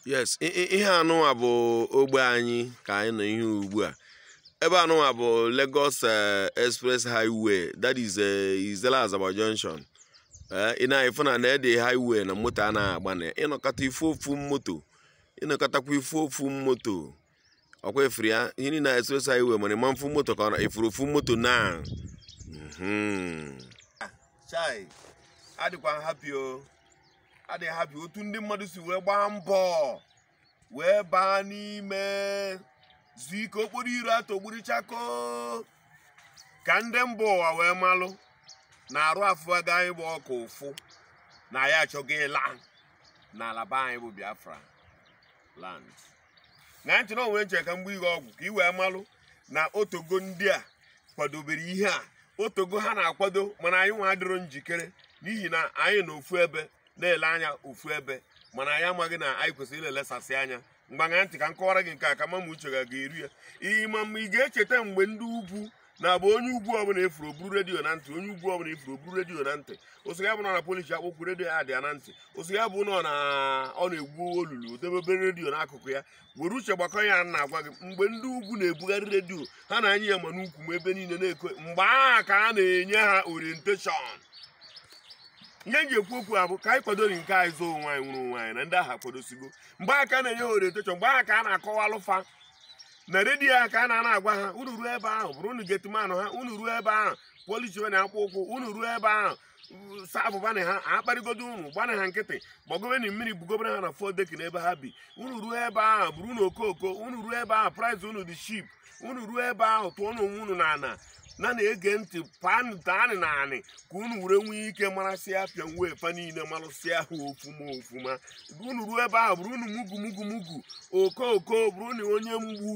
yes ihe anụnwa bụ ogbe anyị ka anyị nọ ihe ugbu a ebe anụnwa bụ Lagos eh, Express Highway that is eh, Issele Azagba Junction eh, ị na-afụ na na the highway na moto anaghị agba na ị nọkata ị fụ ofu moto ị nọkatakwa ị fụ ofu moto ọkwa ị fụrụ ya ihe niile na express highway mana ị ma afụ moto ka ọ nọ ị fụrụ ofu moto na Mhm. chai adịkwa m happy o adị m happy otu ndị mmadụ si wee gbaa mbọ wee baa n'ime zuo ike okporo iro atọgbọrọ chakoo ka ndị mba ụwa wee malụ na arụ afụ aga anyị bụ oke ụfụ na anyị achọgo ịla n'ala be anyị bụ biafra land ṅaa ntị na o nwe nche ka mgbe ihe ọgwụ ka ị wee malụ na o tego ndị a kwadobere ihe a o tego ha na-akwado mana anyị nwa adịrọ njikere n'ihi na anyị nọ ofu ebe na-ele anya ofu ebe mana anyị amaghị na anyị kwesịrị ilelesasị anya ngwa ṅaa ntị ka m kọwara gị nke a ka m ma ma uche gị ga-eru ya ihe ma mma ị ga-echeta mgbe ndị ugwu na-abụ onye ugwu ọbụla ị fụrụ o buru redio na ntị onye ugwu ọbụla ị fụrụ o buru redio na ntị ọ sị ya bụ na polish akpụkpọ ụkwụ redio ya dị ya na ntị ọ sị ya bụ na ọ na- ọ na-egwu olulu debe obere redio n'akụkụ ya were uche gbakọ ya na agwa gị mgbe ndị ugwu na-ebugharị redio ha na-anya ya ma n'ukwu ma ebe niile na-eko mgbe ahụ ka a na-enye ha orientation ihe m ji ekwu okwu a bụ ka anyị kwadoro nke anyị zoo onwe anyị nwụrụ onwe anyị na ndị ahụ akwadosigo mgbe ahụ ka a na-enye ha orientation mgbe ahụ ka a na-akọwalụ fa na redio ahụ ka a na-anọ agwa ha unu ruo ebe ahụ bụrụnụ gateman ha unu ruo ebe ahụ polishiwenụ akpụkpọ ụkwụ unu ruo ebe ahụ saabụbanị ha akparịgodo unu gbanị ha nkịtị gbagobeni mmiri bugobere ha na four deck n'ebe ha bi unu ruo ebe ahụ bụrụnụ okooko unu ruo ebe ahụ price unu dị cheap unu ruo ebe ahụ tụọnụ onwe unu n'ana na na-ege ntị panụ daanị n'anị ka unu were nwee ike marasịa apian way fa niile marụsịa ha ofuma ofuma unu ruo ebe ahụ bụrụnụ mugu mugu mugu okooko bụrụnụ onye mgbu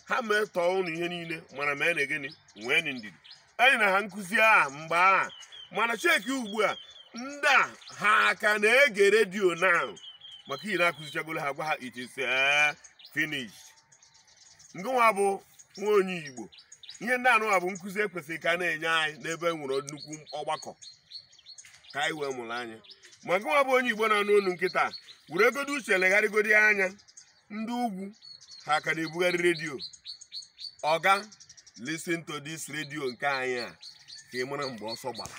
ha metọọ unu ihe niile mana meenụ gịnị nweenị ndidi e nyena ha nkụzi a mgbe ahụ mana check ugbu a ndị a ha ka na-ege redio na maka na akụzichagolo ha gwa ha it is eh, finished ngịnwa bụ nwa onye igbo ihe ndị anụnwa bụ nkụzi ekwesịrị ka a na-enye anyị n'ebe e nwere nnukwu ọgbakọ ka anyị wee mụrụ anya ma gịnwa bụ onye igbo na-anụ olu nkịta weregodo uche legharịgodi anya ndị ugwu ha ka na-ebugharị redio oga listen to this redio nke anyị a ka ị mara mgbe ọsọ gbara